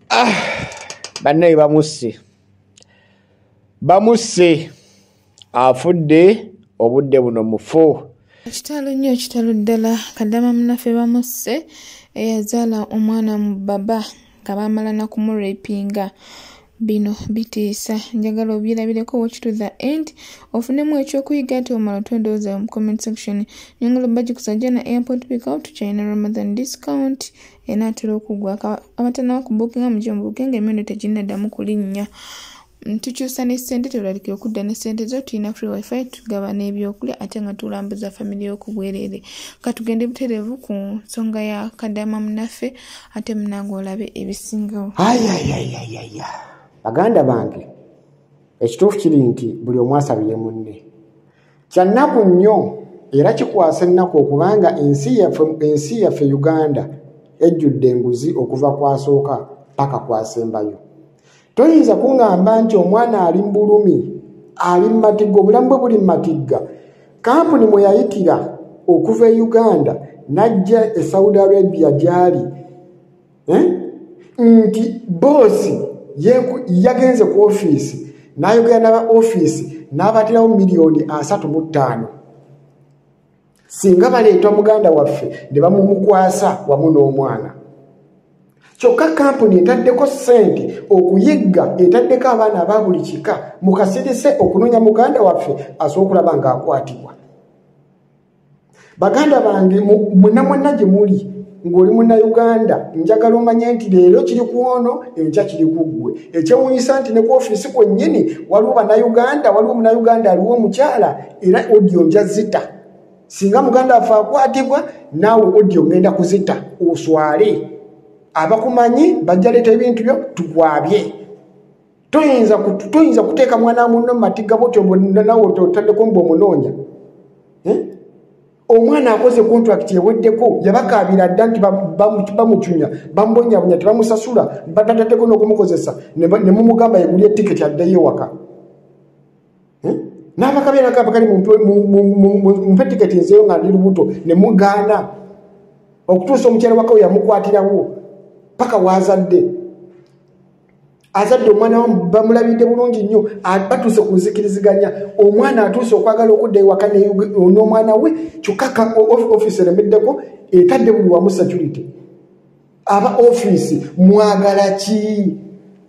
ah, bannaye bamusse bamusse afudde obudde buno mufu ekitalo nnyo ekitalo ddala kadama munafe bamusse eyazaala omwana mu baba nga baamala nakumurepinga bino bitiisa njagala obyerabireko watch to the end ofunemu ekyokuyiga ati omala otwendowooza mu comment section nyongolo baji kusajja na airport pick out china ramadan discount enaatera okugwa abatana okubukinga mujo mubuke nga emirundi teginnaddamu kulinnya tukyusa ne ssente tebulalikira okudda ne ssente zo tulina free wifi tugaba n'ebyokulya ate nga tulambuza famire y'okubwereere ka tugende butereevu ku nsonga ya kadama munaffe ate munange olabe ebisingawo ayayayayaya baganda bange ekituufu kiri nti buli omu asabire munne kyannaku nnyo era kikwasa ennaku okubanga ensi yaffe ensi yaffe uganda ejjudde enguzi okuva kwasooka paka kwasembayo toyinza kuŋŋamba nti omwana ali mu bulumi ali mu matigga obulamu bwe buli mu matigga kampuni mwe yayitira okuva e uganda n'ajja e saudi arabia gy'ali eh? nti boosi yagenze ku ofiisi n'ayogera naba ofiisi n'abatirawo miliyoni asatu mu ttaano singa baleeta muganda waffe ne bamumukwasa wamu n'omwana kyokka kampuni etaddeko ssente okuyigga etaddeko abaana aba buli kika mukasirise okunoonya muganda waffe asobola okulaba ng'akwatibwa baganda bange mwena mwena gye muli ng'oli munnauganda njagala omanye nti leero kiri ku ono enkya kiri ku ggwe ekyewunyisa nti ne ku ofiisi kwennyini waliwo bannauganda waliwo munnauganda aliwo omukyala era odio nja zita singa muganda afe akwatibwa naawe odio ngenda kuzita oswale abakumanyi bajja leeta ebintu byo tukwabye toyinza toyinza kuteeka mwana munno mumatiga botyo nawe otaddeko mbu omunoonya eh? omwana akoze contract eweddeko yabakaabira dda nti bamucunya bamubonyabonya tebamusasula batataddeko n'okumukozesa nemumugamba yeguli etiketi addeyo ewaka eh? nabakaberakabakali mumpe tiketi nzeyo nga ndi lubuto nemugaana okutuusa omukyala wakawe yamukwatirawo paka wazadde azadde omwana wamu bamulabidde bulungi nnyo batuuse ku nzikiriziganya omwana atuuse okwagala okudda ewaka n'omwana we kyokka ka ofiisi eremeddeko etadde buli wamu security aba ofiisi mwagala ki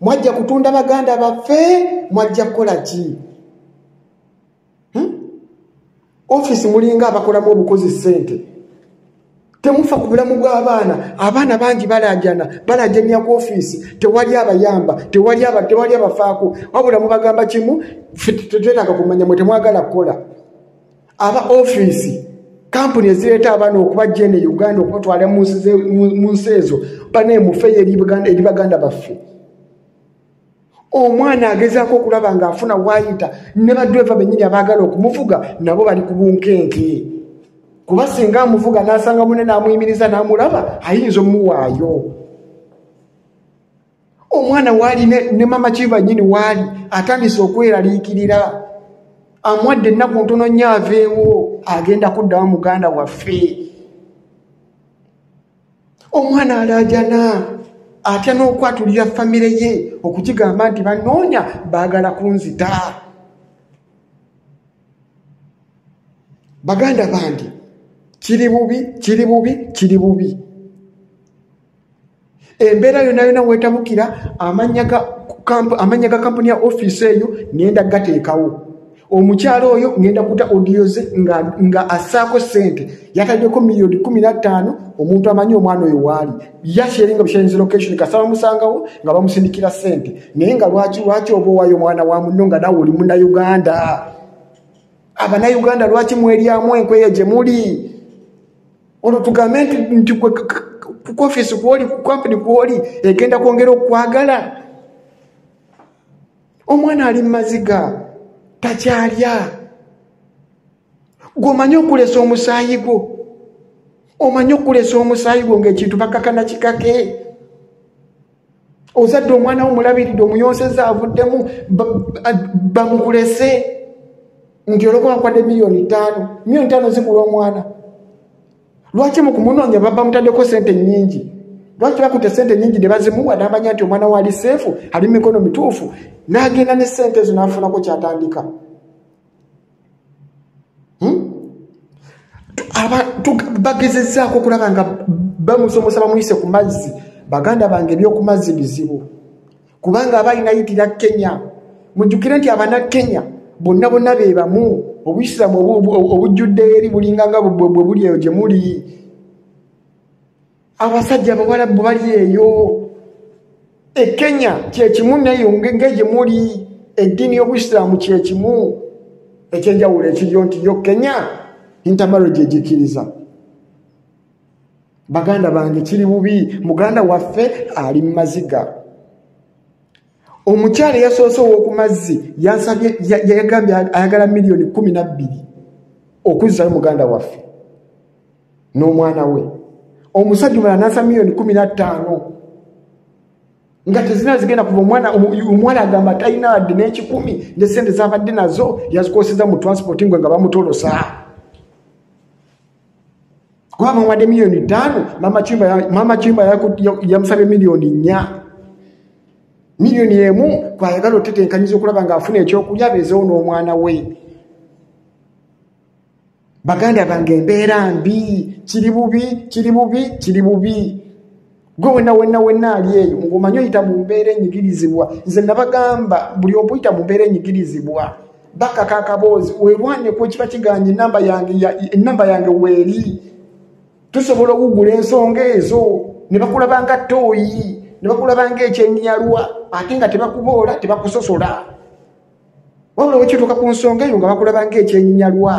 mwajja kutunda baganda baffe mwajja kukola ki hmm? ofisi mulinga abakolamu obukozi sente temufa ku bulamu bw'abaana abaana bangi balajana balajanya ku ofiisi tewali abayamba tewali abafaako wabula mubagamba kimu tetwetaaga kumanya mwe temwagala kukola aba ofiisi kampuni ezireeta abaana okubajja eno e uganda okubatwala mu nsi ezo baneemufeyo eri baganda baffe omwana agezaako okulaba ng'afuna waayita ne badreva bennyini abaagala okumuvuga nabo bali ku bunkenke kuba singa amuvuga n'asanga mune n'amuyimiriza n'amulaba ayinza omuwaayo omwana waali ne mama kiva nyini waali atandise okweraliikirira amwadde ennaku ntono nnyo aveewo agenda kuddawo muganda waffe omwana alaajana atya n'okwatulira famire ye okukigamba nti banoonya baagala kunzita baganda bange kiri bubi kiri bubi kiri bubi embeera yona yona wetabukira amanya ga kampuni ya ofiisi eyo nenda gateekawo omukyalo oyo ngenda kuta odiyo ze nga, nga asaako sente yataddeko miliyoni kumi nattaano omuntu amanyi omwana oyo waali yasheringa busharinzi location kasaba musangawo nga bamusindikira sente naye nga lwaki lwaki oba owayo omwana wa munno nga nawe oli munauganda abanauganda lwaki mweryamu enkweya gye muli olwo tugambe nti nti kukofiisi kwoli kukampuni kwoli egenda kwongera okukwagala omwana ali mumaziga takyalya gwomanyi okulesa omusaayi gwo omanyi okulesa omusaayi gwo ngaekintu bakakana kikake ozadde omwana wo mulabiridde omuyonseza avuddemu bamukulese nti olwokuba nkwade miliyoni ttaano miliyoni ttaano zigula omwana lwaki mukumunonya baba mutadeko sente nyingi lwaki bakute sente nyingi nebazimuwa namanya nti omwana waali seefu ali mumikono mituufu nagenda ne sente ezo nafunako kyatandika hmm? bagezezaako okulaba nga bamusomosa bamuyise ku mazzi baganda bange ebyokumazzi bizibu kubanga aba inayitira kenya mujjukire nti abana kenya bonna bonna be bamu obuyisiramu obujjudde eri bulinganga bwe buli eyo gye muli abasajja abawalabu bali eyo e kenya kyekimu nayo ngenge gye muli eddiini y'obusiraamu kyekimu ekyenjawulo ekiryo nti yo kenya intamarage egikkiriza baganda bange kiri bubi muganda waffe ali mu maziga omukyala eyasoose ow'oku mazzi yagambye ayagala miliyoni kumi na bbiri okuzzayo muganda waffe n'omwana we omusajja omala nasa miliyoni kumi na ttaano nga tezina zigenda kuva omwana omuwala agamba talina wadde n'ekikumi ne sente zabadde nazo yazikoseza mu transport ngwe nga bamutolosaa kuba bamuwadde miliyoni ttaano maama kimba yamusabye miliyoni nnya miliyoni emu kwayagala otetenkanyiza okulaba ngaafuna ekyokulya bezewo n'omwana we baganda bange embeera mbi kiri bubi kiri bubi kiri bubi gwe wena wena wena ali eyo ngomanyi oyita mu mbeera enyigirizibwa nze nabagamba buli obuyita mu mbeera enyigirizibwa bakaka akaboozi werwaneko kiba kiganye enamba yange enamba yange weeri tusobola okugula ensonga ezo ne bakulabanga tooyi ne bakulabanga ekyenyalwa ate nga tebakuboola tebakusosola wabula wekituuka ku nsonga eyo nga bakulabanga ekyenyinyalwa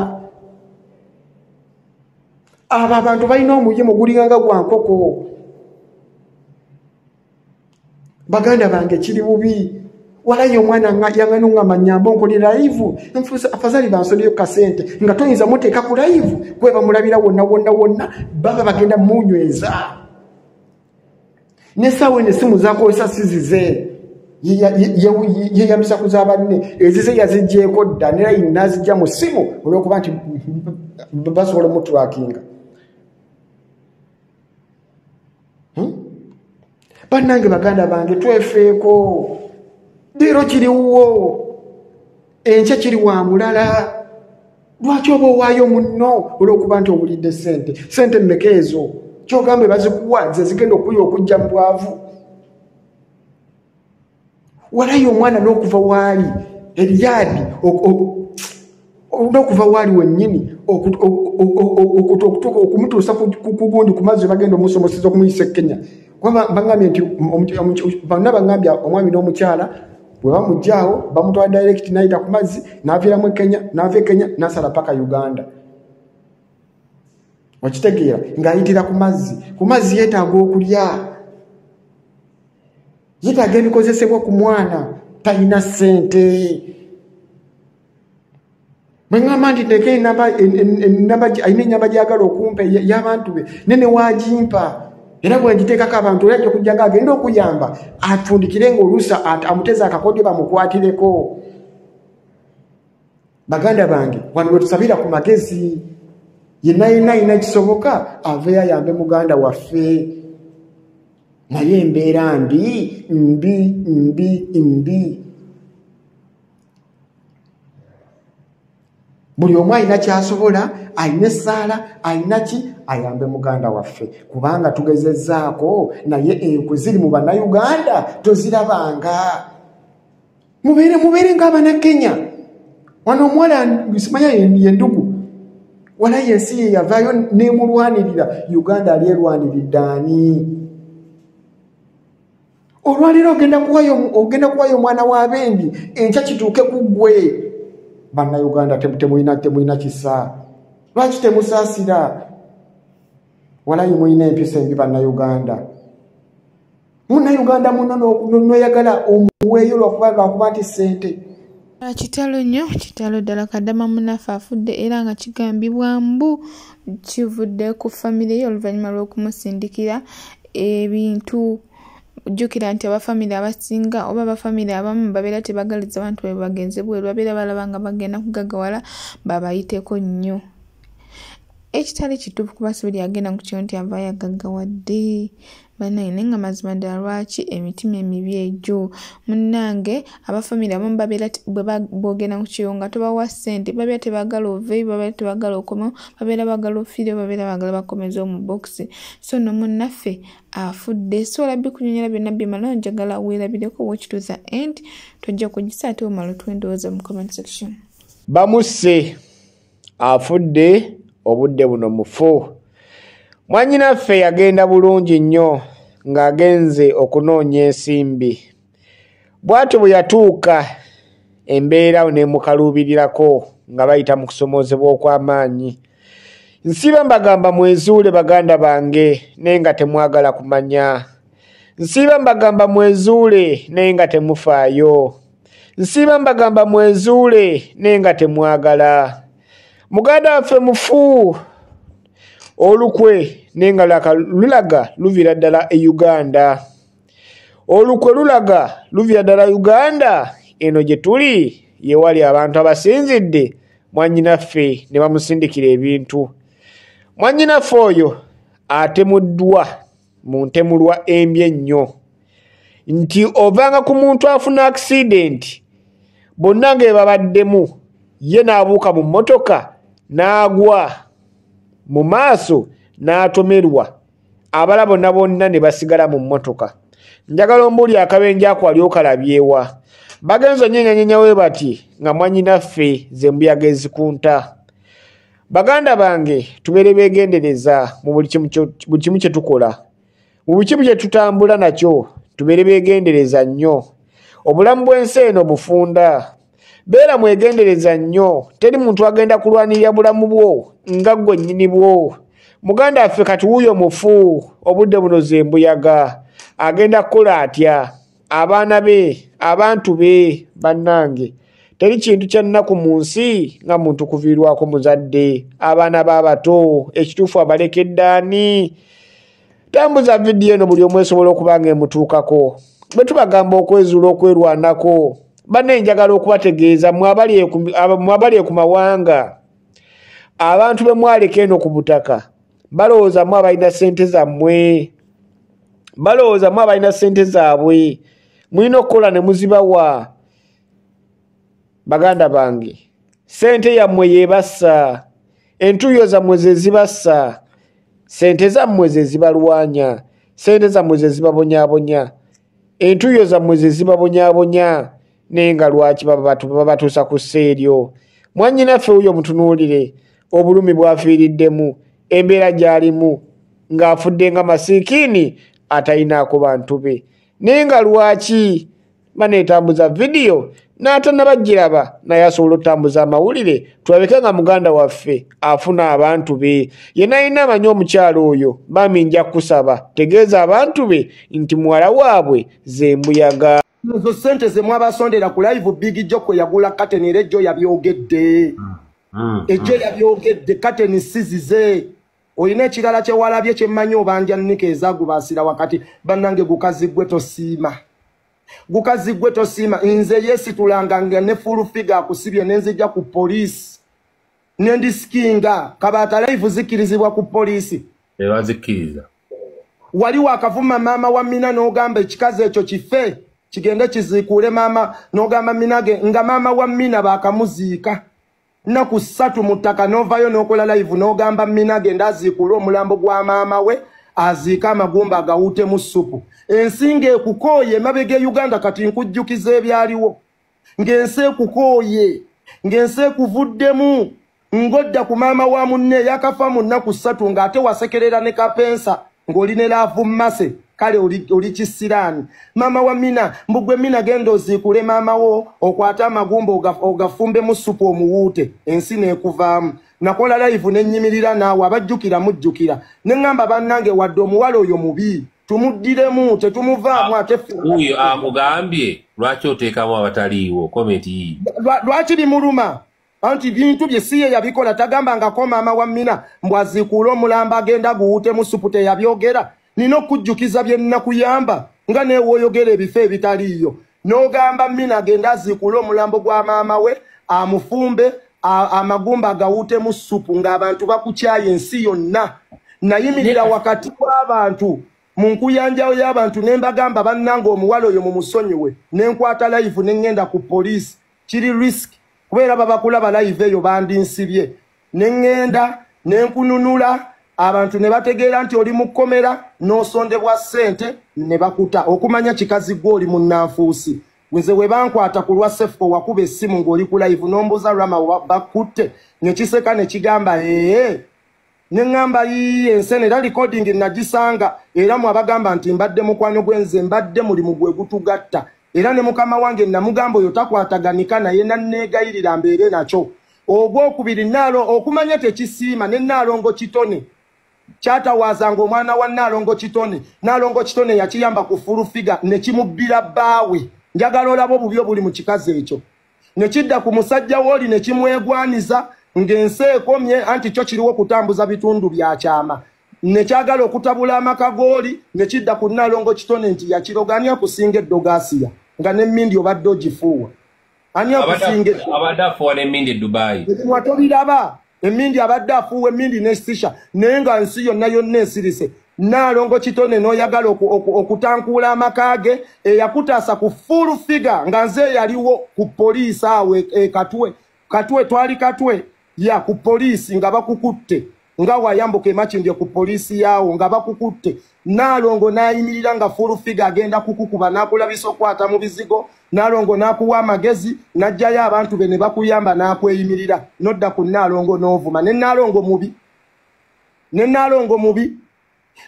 abo abantu balina omuyimu gulinganga gwa nkoko baganda bange kiri bubi walayi omwana yangani ngamba nyamba onkole layivu afazali bansoneyo kasente nga toyinza muteeka ku layivu kwebamulabira wonna wonna wonna baba bagenda munyweza nesaawa eno esimu zakozesa sizize yeyambisa kuza banne ezize yazijjeeko dda nerayi nazijja mu simu olwokuba nti basobola omutulakinga hmm? bannange baganda bange twefeeko leero kiriwuwo enkya kiri wa mulala lwaki oba owaayo munno olw'okuba nti owulidde sente sente mmeka ezo kyogambe bazikuwa ze zigenda okuya okujja mu bwavu walayo omwana n'okuva waali ebyadi n'okuva waali wennyini okutuuka okumutuusa kugundi ku mazzi bagenda omusomoseza okumuyisa ekkenya kuba bagambye nti bonna bagambye omwami n'omukyala bwe bamugyawo bamutwala direct nayita ku mazzi naviiramu ekenya nava ekenya nasala paka uganda okitegeera ngaayitira ku mazzi ku mazzi yeetaaga okulya yeetaaga ebikozesebwa ku mwana talina ssente bwe ŋŋamba nti nteeka enamba alina ennyamba gyagala okumpa y'abantu be ne ne waagimpa era bwe ngiteekako abantu era ajja okujjanga agenda okuyamba atundikire ng'oluusa amuteeza akakodyo bamukwatireko baganda bange wano lwe tusabira ku magezi yenna yenna alina kisoboka aveyo ayambe muganda waffe naye embeera mbi mbi mbi mbi buli omu alina kyasobola alina essaala alina ki ayambe muganda waffe kubanga tugezezaako naye enkwe ziri mu bannayuganda tozirabanga mubeere mubeere nga abanakenya wano omuwala simanya yendugu walayi ensi ye yavaayo nemulwanirira uganda alyerwaniridde ani olwaleero ogenda kuwayo omwana wa bendi enkya kituuke ku ggwe bannauganda temulina temulina kisa lwaki temusaasira walayi mulina empisa embi bannauganda munnauganda muno noyagala omuweeyo lwakuba nti sente Ah, kitalo nnyo kitalo ddala kadama munaffe afudde era nga kigambibwa mbu kivudde ku famire ye oluvannyuma lw'okumusindikira ebintu jjukira nti abafamire abasinga oba abafamire abamu babeera tebagaliza abantu bwe bagenze bweru babeera balaba nga bagenda kugagawala babayiteko nnyo ekitali kituufu kuba sibuli agenda ku kyo nti avaayo agaggawadde banaye naye nga mazima ddala lwaki emitima emibi egyo munnange abafamire abamu babeera bwebogenda ku kiyo nga tobawa ssente babeera tebagala oveyo babeera tebagala okomeo babeera bagala ofiireo babeera bagala bakomeza omu bokisi so no munnaffe afudde so olabbi kunyonyola byonna byemala onjagala weerabireko wokituza end tojja kugisa ate omala otwendowooza mu comment section bamusse afudde obudde buno mufu mwanyinaffe yagenda bulungi nnyo ng'agenze okunoonya ensimbi bw'atyo bwe yatuuka embeera awo nemukaluubirirako nga bayita mu kusomoozebwa okw'amaanyi nsiiba mbagamba mwezuule baganda bange naye nga temwagala kumanya nsiiba mbagamba mwezuule naye nga temufaayo nsiiba mbagamba mwezuule naye nga temwagala muganda waffe mufu olukwe naye nga laka lulaga luviira ddala e uganda olukwe lulaga luviira ddala uganda eno gye tuli yewali abantu abasinzidde mwanyinaffe ne bamusindikira ebintu mwanyinaffe oyo atemuddwa mu ntemulwa embi ennyo nti ovanga ku muntu afuna akisidenti bonna nga ebabaddemu ye n'abuuka mu mmotoka n'agwa mu maaso n'atomerwa abala bonna bonna ne basigala mu mmotoka njagala ombuuli akabenje ako ali okalabyewa bagenza onyenyanyenyawe bati nga mwanyinaffe zembuyaga ezikunta baganda bange tubeere begendereza mu buli kimu kye tukola mu buli kimu kye tutambula nakyo tubeere begendereza nnyo obulamu bw'ensi eno bufunda beera mwegendereza nnyo teri muntu agenda kulwanirira bulamu bwo nga gwe nnyini bwo muganda waffe kati wuuyo mufu obudde buno ze mbuyaga agenda kukola atya abaana be abantu be bannange teri kintu kyannaku mu nsi nga muntu kuviirwako muzadde abaana baabato ekituufu abalekeddaani tambuza vidiyo eno buli omu esobola okuba nga emutuukako bwe tubagamba okwezuula okwerwanako bane njagala okubategeeza mwabali eku mawanga abantu bemwaleka eno ku butaka balowooza mu abalina sente zammwe balowooza mu abalina sente zaabwe mulina okukola ne muzibawa baganda bange sente yammwe yebassa entuuyo zammwe zezibassa sente zammwe zezibalwanya sente zammwe zezibabonyabonya entuuyo zammwe ze zibabonyabonya naye nga lwaki babatuusa ku ssa eryo mwannyinaffe wuyo mutunuulire obulumi bwafiiriddemu embeera gy'alimu ng'afudde nga masiikiini atalinaako bantu be naye nga lwaki baneetambuza vidiyo n'atanabagiraba naye asobola otambuza amawulire tulabeke nga muganda waffe afuna abantu be yena alina amanyi omukyalo oyo bami nja kusaba tegeeza abantu be nti muwala waabwe zembuyaga ezo sente zemwabasondera ku live big jo kwe yagula kateni era ejjo yabyogedde mm, mm, ejjo mm. yabyogedde kateni sizize olina ekirala kyewalabye kyemmanyi obanja nika ezagubaasira wakati bannange gukazi gwe tosiima gukazi gwe tosiima nze yesitulanga nga ne full figure akusibye nenzija ku poliisi nendisikinga kabaata laivu zikkirizibwa ku poliisi ebazikkiriza wali wakavuma maama wa mina n'ogamba ekikazi ekyo kife kigende kiziikuule maama n'ogamba minage nga maama wa mina baakamuziika nnaku ssatu mu ttaka n'ovaayo n'okola layivu n'ogamba mina genda aziikuule omulambo gwa maama we aziika amagumba agawuutemu ssupu ensinga ekukooye emabega e uganda kati nkujjukiza ebyaliwo ng'ensi ekukooye ng'ensi ekuvuddemu ng'odda ku maama wa munne yakafa mu nnaku ssatu ng'ate wasekerera ne kapensa ng'oli ne laavu mmase kale oli kisiraani maama wa mina mbugwe mina genda oziikule maama wo okwate amagumba ogafumbemu supu omuwuute ensi neekuvaamu nakola layivu nenyimirira naawe abajjukira mujjukira ne ŋŋamba bannange wadde omuwala oyo mubi tumuddiremu tetumuvaamu ate wuyo akugambye lwaki oteekamu abataliiwo komenti yii lwaki bimuluma anti bintu bye siye yabikola tagamba ngako maama wa mina mbu aziikuula omulambo agenda guwuutemu supu teyabyogera nina okujjukiza bye nnakuyamba nga neewoyogera ebifo ebitaliiyo n'ogamba mina agenda aziikuula omulambo gwa maama we amufumbe amagumba agawuutemu supu ng'abantu bakukyaye ensi yonna nayimirira wakati w'abantu mu nkuyanjawo y'abantu ne mbagamba bannanga omuwala oyo mu musonyiwe ne nkwata layivu ne ŋŋenda ku poliisi kiri risk kuba era babakulaba live eyo bandinsibye ne ŋŋenda ne nkununula abantu ne bategeera nti oli mu kkomera n'osondebwa ssente ne bakuta okumanya kikazi gwe oli munnanfuusi nze we bankwata ku lwa sefuko wakuba essimu ng'oli ku live n'ombuuza rama bakutte ne kiseka ne kigamba ee ne ŋŋamba yiiye ensene era likodingi nagisanga era mu abagamba nti mbadde mukwano gwe nze mbadde mulimu gwe gutugatta era ne mukama wange namugamba oyo takwataganika naye nanneegayirira mbeere nakyo ogwokubiri naalo okumanya tekisiima ne naalongo kitone kyatawaazanga omwana wa naalongo kitone naalongo kitone yakiyamba ku fulufiga ne kimubbira bbaawe njagala olaba obubi obuli mu kikazi ekyo ne kidda ku musajja wooli ne kimwegwaniza ng'ensi ekomye anti kyo kiriwo kutambuza bitundu bya kyama ne kyagala okutabula amaka gooli ne kidda ku nnalongo kitone nti yakiroga ani akusinga eddogasiya nga n'emmindi obadde ogifuuwa ani akusinga eddubayi ebimwa tobiraba emindi abadde afuuwa emindi nesisha naye nga nsi yonna yonna esirise naalongo kitone noyagala okutankuula amaka ge eyakutaasa ku full figure nga nze yaliwo ku poliisi awo e, e katwe katwe twali katwe ya ku poliisi nga bakukutte nga wayambuka emakindye ku poliisi yaawo nga bakukutte naalongo nayimirira nga full figure agenda kukukuba nakulabisa okukwata mu bizigo na naalongo n'akuwa amagezi n'aggyayo abantu be ne bakuyamba n'akweyimirira nodda ku naalongo n'ovuma ne naalongo mubi ne naalongo mubi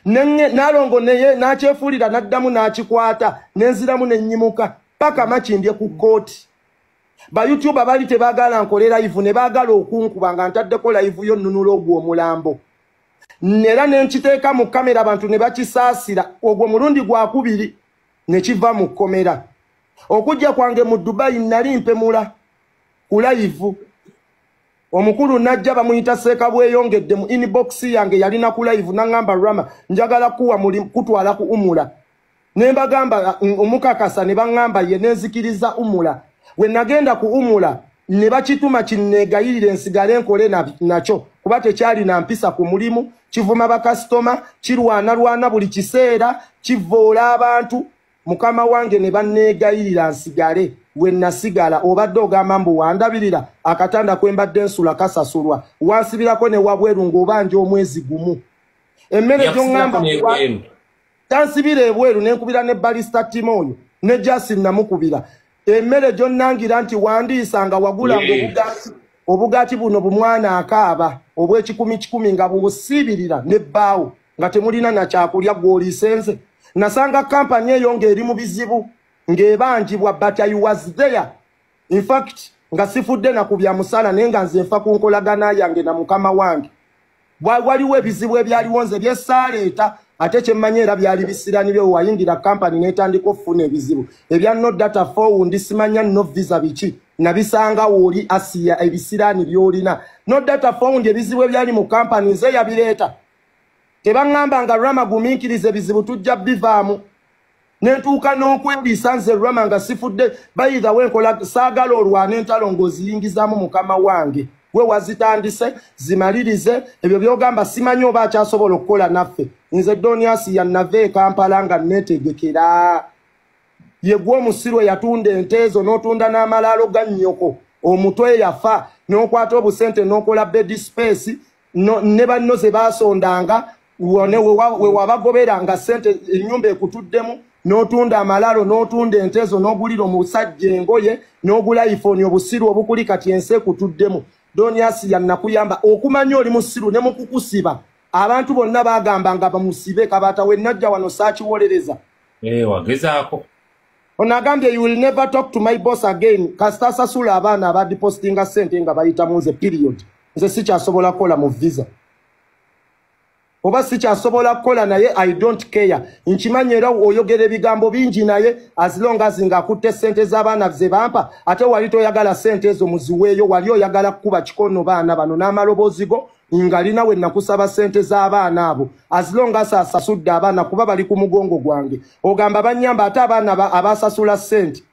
naalongo neye n'akyefuulira n'addamu n'akikwata n'enziramu n'ennyimuka paka makimbye ku kkooti bayutuba bali tebaagala nkole layivu ne baagala okunkuba nga ntaddeko layivu yo nnunula ogwo omulambo era ne nkiteeka mu kamera abantu ne bakisaasira ogwo mulundi gwakubiri ne kiva mu kkomera okujja kwange mu dubayi nali mpemula ku layivu omukulu najja bamuyita seeka bweyongedde mu inbox yange yalina ku layivu naŋamba rama njagala kuwa muli kutwala ku umula ne mbagamba mm, omukakasa ne baŋamba ye nenzikiriza umula we nagenda kuwumula ne bakituma kinneegayirire nsigale nkole nakyo kuba tekyalina mpisa ku mulimu kivuma bakasitoma kirwanalwana buli kiseera kivvoola abantu mukama wange ne banneegayirira nsigale we nasigala obadde ogamba mbu wandabirira akatanda kwe mbadde nsula kasasulwa wansibirako ne wabweru ng'obanja omwezi gumu emmere gyoŋŋamba tansibira ebweru nenkubira ne balista timu oyo ne jasin namukubira emmere gyonnangira nti wandiisa nga wagula nga obugaati obugaati buno bumwana akaaba obwekikumi kikumi nga bubusiibirira ne bbaawo nga temulina nakyakulya gwoliisenze nasanga kampani eyo ng'eri mu bizibu ng'ebanjibwa but i was there in fact nga sifudde na ku bya musala naye nga nze nfa ku nkolagana yange na mukama wange waliwo ebizibu ebyaliwo nze byesaaleeta ate kyemmanyi era byali bisirani byo wayingira kampani n'etandika okufuna ebizibu ebya no data fow ndi simanya no visa biki nabisanga wooli asiya ebisiraani byolina no data fow ndi ebizibu ebyali mu kampani nze yabireeta tebaŋŋamba nga rama gumiikiriza ebizibu tujja bivaamu nentuuka n'okweriisa nze rama nga sifudde bayitha wenkola saagala olwana entalo ng'oziyingizaamu mukama wange we wazitandise zimalirize ebyo byogamba simanyi oba akyasobola okukola naffe nze doniasi yanava ekampala nga netegekera yegwa omusiru eyatunda ente ezo n'otunda n'amalaalo ga nnyoko omutwe yafa n'okwata obusente n'okola bedi space no, ne banno ze baasondanga we wabagobera nga sente ennyumba ekutuddemu n'otunda amalalo n'otunda entezo n'ogulira omusajja engoye n'ogula iphone obusiru obukuli kati ensi ekutuddemu doniasi yannakuyamba okumanya oli musiru ne mukukusiba abantu bonna bagamba nga bamusibe kabaata wenajja wano saakiwolereza eh, wagezaako ono agambye you will never talk to my boss again kasita asasula abaana abadipostinga sente nga bayitamu nze period nze sikyasobola kukola mu visa oba sikyasobola kukola naye i don't care nkimanyi era oyogera ebigambo bingi naye asilongazi nga akutte sente z'abaana ze bampa ate wali toyagala sente ezo muziweeyo wali oyagala kukuba kikono baana bano n'amaloboozi go ngalina we nakusaba sente z'abaana abo asilongazi asasudde abaana kuba bali ku mugongo gwange ogamba banyamba ate abaana abasasula sente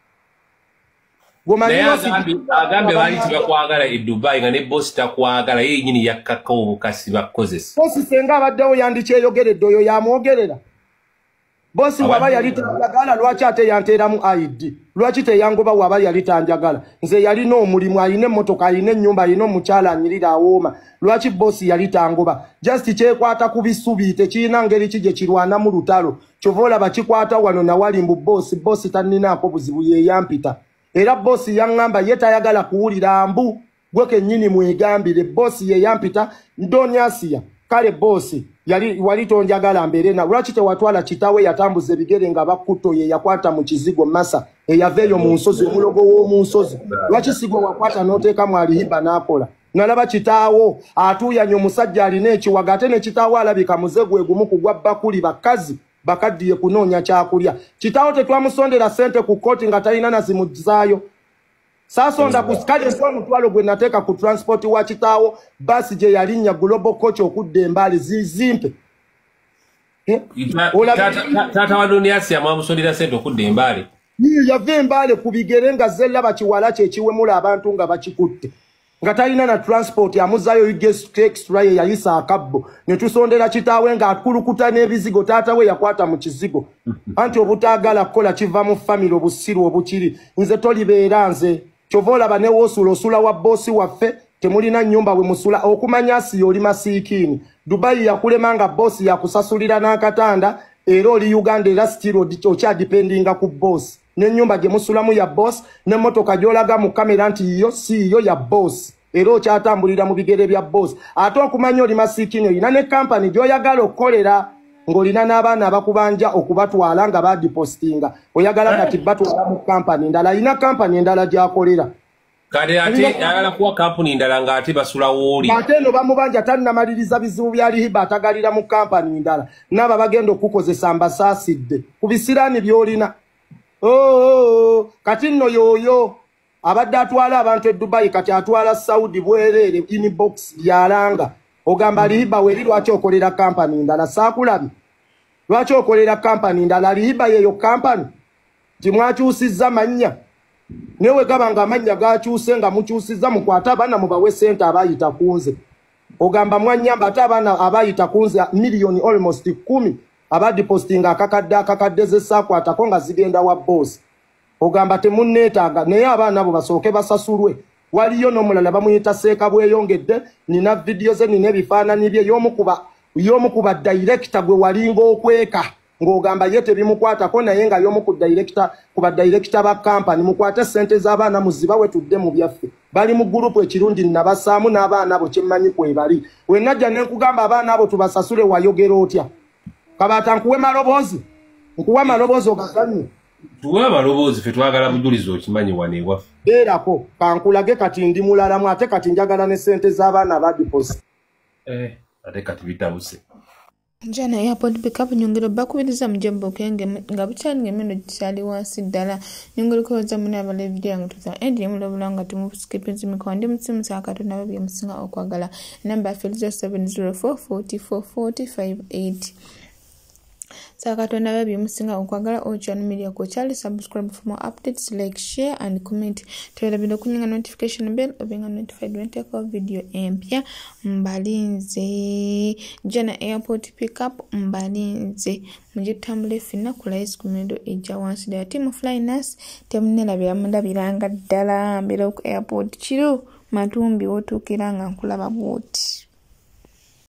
agambye baali tibakwagala e dubai nga ne bosi takwagala ye yenyini yakkaka obukasi bakozesa bosi senga abaddewo yandikyeyogeredde oyo yamwogerera bosi waba yali tanjagala lwaki ate yanteeramu id lwaki teyangoba waba yali tanjagala nze yalina omulimu alina emmotoka alina ennyumba alina omukyala anyirira awooma lwaki bosi yali tangoba just kyekwata ku bisubi tekirina ngeri ki gye kirwanamu lutalo kyova olaba kikwata wano nawali mbu boosi boosi tanninaako buzibu yeyampita era boosi yaŋŋamba ye tayagala kuwulira mbu gwe kennyini mwegambire boosi yeyampita ndonyasiya kale boosi yali wali tonjagala mbeere na lwaki tewatwala kitawe yatambuza ebigere nga bakkuto ye yakwata mu kizigo masa eyava eyo mu nsozi omulogo w'omu nsozi lwaki sigwe wakwata n'oteekamu alihiba n'akola nalaba kitaawo atuuyanya omusajja alina ekiwaga ate ne kitaawo alabika muze gwe gumu kugwa bakuli bakazi bakaddiye kunoonya kyakulya kitaawo tetwamusondera sente ku kkooti nga talina nazimuzaayo saasonda ku kale nti omutwalo gwe nateeka ku transport wa kitaawo baasi gye yalinnya global coach okudda embaali zizimpe Eh? taata wa duniasi amwamusondera sente okudda embaale yava embaale ku bigere nga zella bakiwala kyekiwemula abantu nga bakikutte nga talina na transport amuzayo ugestra ye yayisa akabbo netusondera kitaawe nga akulukuta n'ebizigo taata we yakwata mu kizigo anti obutaagala kukola kiva mu famire obusiru obukiri nze tolibeera nze kyova olaba newosula osula wa bosi waffe temulina nyumba bwe musula okumanya asiya oli masiikiini dubayi yakulema nga bosi yakusasulira n'akatanda era oli uganda era sitiro okyadipendinga ku bosi n'enyumba gye musulamu ya bosi n'emmotoka gyolaga mu kamera nti yiyo siiyo ya bosi era okyatambulira mu bigere bya boss ate okumanya oli masikini olina ne kampani gy'oyagala okukolera ng'olina n'abaana abakubanja okubatwala nga badipostinga oyagala eh. kati batwala mu kampani endala alina kampani endala gy'akolera kati ate ayagala kuwa kampuni endala ng'ate basula wooli ate eno bamubanja tannamaliriza bizibu bya lihiba atagalira mu kampani endala naaba bagenda okukukozesa mbasaasidde ku bisiraani by'olina oh, oh, oh, kati nno yooyo abadde atwala abantu e dubayi kati atwala saudi bwereere inbox byalanga ogamba lihiba weri lwaki okolera kampani ndala saakulabi lwaki okolera kampani ndala lihiba yeyo kampani timwakyusizza mannya naye wegaba nga amannya gakyuse nga mukyusizza mukwate abaana mubawe sente abayita kunze ogamba mwanyamba ate abaana abayita kunze miliyoni almost kumi abadipostinga akakadde akakadde zesaakwatako nga zigenda wa boosi ogamba temunneetaaga naye abaana abo basooke basasulwe waliyo n'omulala bamuyita seeka bweyongedde nina vidiyo ze nina ebifaananyi bye y'omu ku badirekita gwe walinga okweka ng'ogamba ye tebimukwatako naye nga y'omu ku direkita ku badirekita ba kampani mukwate ssente z'abaana muziba we tudde mu byaffe bali mu gurupu ekirungi nnabasaamu n'abaana abo kyemmanyi kwebali wenajja ne nkugamba abaana abo tubasasule wayogera otya kabaata nkuwe maloboozi nkuwa maloboozi ogaganye tuwe abaloboozi fe twagala bujulizi okimanyi wano ewaffe beerako kankulage kati ndi mulalamu ate kati njagala ne sente z'abaana badiposi eh, ate kati bitabuse njana ya podbika bunyongero bakubiriza mujemba okenge nga bukyali ngemeno gikyali wansi ddala nyongero kwebaza mune abala evidiyo yange tuza endi yemulabula nga timusikipinzi mikowa ndi musimu sa katonda babye musinga okwagala namba afiriza 704 44 45 8 sakatonda babi musinga okwagala ocean media ko kyali subscribe for more updates like share and comment twerabira okunyinga notification bell obenga notified when take off video empya mbalinze jana airport pickup mbalinze mugitambula efina ku lice ku mirudo ejja wansi ddala ti mu flynas temunelabira mulabiranga ddala mbeera ku airport kiro matumbi wotuukira nga nkulaba bwoti